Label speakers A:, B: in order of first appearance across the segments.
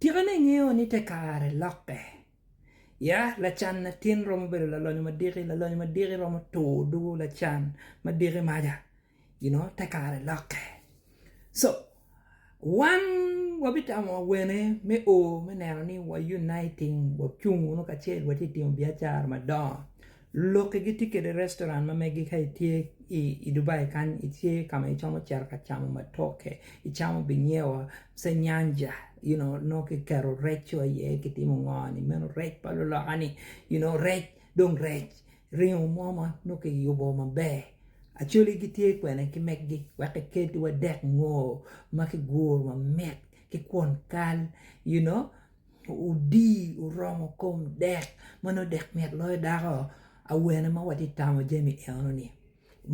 A: Tika ni ingeyo ni te kare lokke? Ya, lacan latin romo bedo lalonyo madiki, lalonyo madiki romo tur dugo lacan madiki maja. You know, te kare lokke. So, wan wabitamo awene me o me neno ni wa uniting, wacung wunu kacel watye timo biacara madongo. Loki gitye kede restoran ma megi ka itye i Dubai kany itye ka ma icomo cito ka camo matoke icamo binyewa ce nyanja you know nongo kiketo rec wa iye kitimo ngo ni meno rec pa luloka ni you know rec dong rec ringo mo ma nongo kiyubo maber Acholi gitye kwene ki megi wek kikelgi wadek ngo ma kiguro mamit ki kwon kal you know Odii oromo kom dek ma nongo dek mit loyo dako awene ma watye ka tamo jami enoni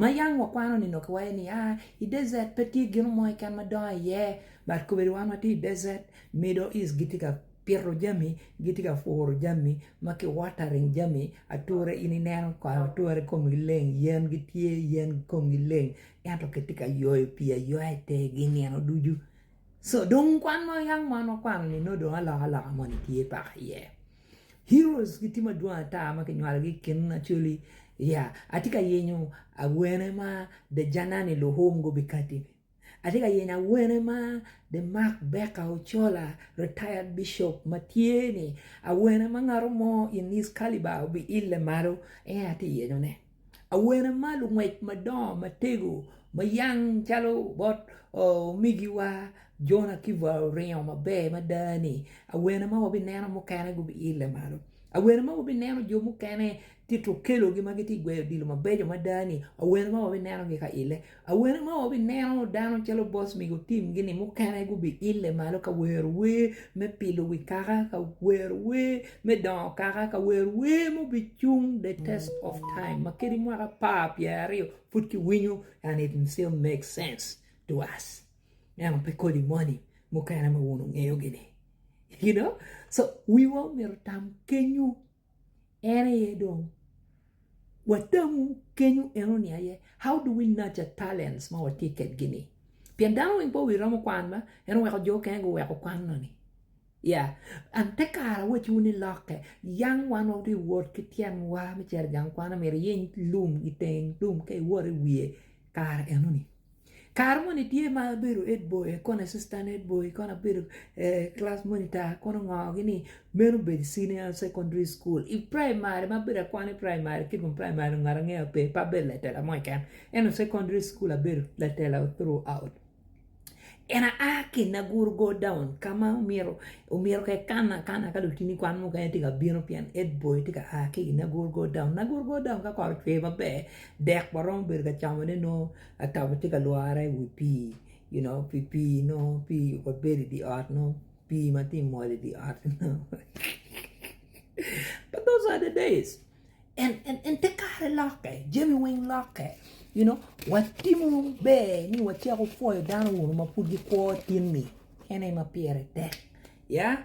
A: ma yam wakwano ni nongo kiwaco ni aa i desert pe tye gino mo keken ma dongo iye but kobedi wan watye i desert, middle east gitye ka pito jami gitye ka puro jami ma ki watering jami ature in ineno kong ature komgi leng yen gitye yen komgi leng ento kitye ka ywayo pii aywayo i tergi nino ducu. So dong kwan ma yam wan wakwano ni nongo dong alok aloka moni tye paka iye. Heroes gitye madwong ata ma kinywalogi i kin Acholi ya atye ka yenyo awene ma The Janani Luhum gubikati-ni. Atye ka yenyo awene ma The Mark Becca Ochola retired Bishop ma tye-ni. Awene ma ngato mo in his calibre obiille malo en aye atye ka yenyone. Awene ma lungwec madongo matego ma yang calo bot omigiwa Jona ki wa oringo maber mada ni awene ma wabineno mukene gubile malo awene ma wabineno jo mukene tye tukelo gi ma gitye gweyo odilo mabeco mada ni awene ma wabineno gi ka ile. Awene ma wabineno dano calo boss migo tim gi ni mukene gubi ile malo ka wero wer me pilo wi kaka ka wero wer me dongo kaka ka wero wer ma obi cung the test of time ma kadi mwaka apar pyera aryo pud ki winyo and it still make sense to us eno pe kodi moni mukene ma wun ungeyo gini you know so wiwa omyero tam kenyu en aye dong watamu kenyo enoni aye how do we nurture talents ma watye kedgi ni pien dano weng pe wi romo kwan ma en oweko jo okene guweko kwan noni ya and te kare awaci wu ni lokke yang wan watye wot ki tyenwa me cito igang kwan myero iyiny lum iteng lum ka iwot iwiye kare enoni. Kare moni tye ma abedo head boy kong assistant head boy kong abedo class monitor kong ongorogi ni meno obedo senior secondary school i primary ma abedo akwano i primary ki dong primary ngat angeya pe pe abedo latela mo keken ento secondary school abedo latela through out and I a ki i Naguru go down ka ma omyero omyero ka ikana akana ka lutini kwan mukene tye ka bino pien head boy tye ka a ki i Naguru go down, Naguru go down ka kot ocwer maber dek waromo bedo ka camone nongo Atabo tye ka lwore i wi pii you know pi pii nongo pii kong bedo i dye ot nongo pii ma tye ka mol i dye ot nongo but those are the days and te kare lokke jami weng lokke you know watimo ber ni wacako pwoyo dano ma pud gikwo tinni kene ma pire tek yeah.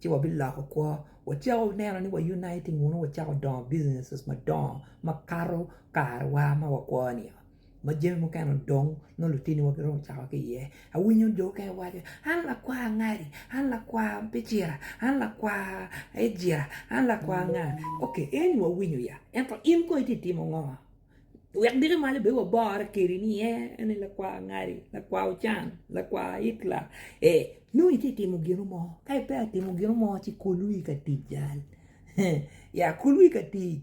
A: ci wabiloko kwo wacako neno ni wa uniting wunu wacako dongo businesses madongo makato karwa ma wakwo ni oo ma jami mukene odong nongo lutiniwa giromo cako ki iye awinyo jo mukene giwaco ni an lakwa angadi an lakwa picira an lakwa ejira an lakwa nga ok eni wawinyo ya ento in kong itye ka timo ngo. Wek diki malo bene wabore kedi ni en aye lakwar Ngali, lakwar Ocang, lakwar Hitler. Ee, nongo itye ka timo gino mo. Ka ipeya timo gino mo, ci kul wi ka tic jal. Yaa kul wi ka tic.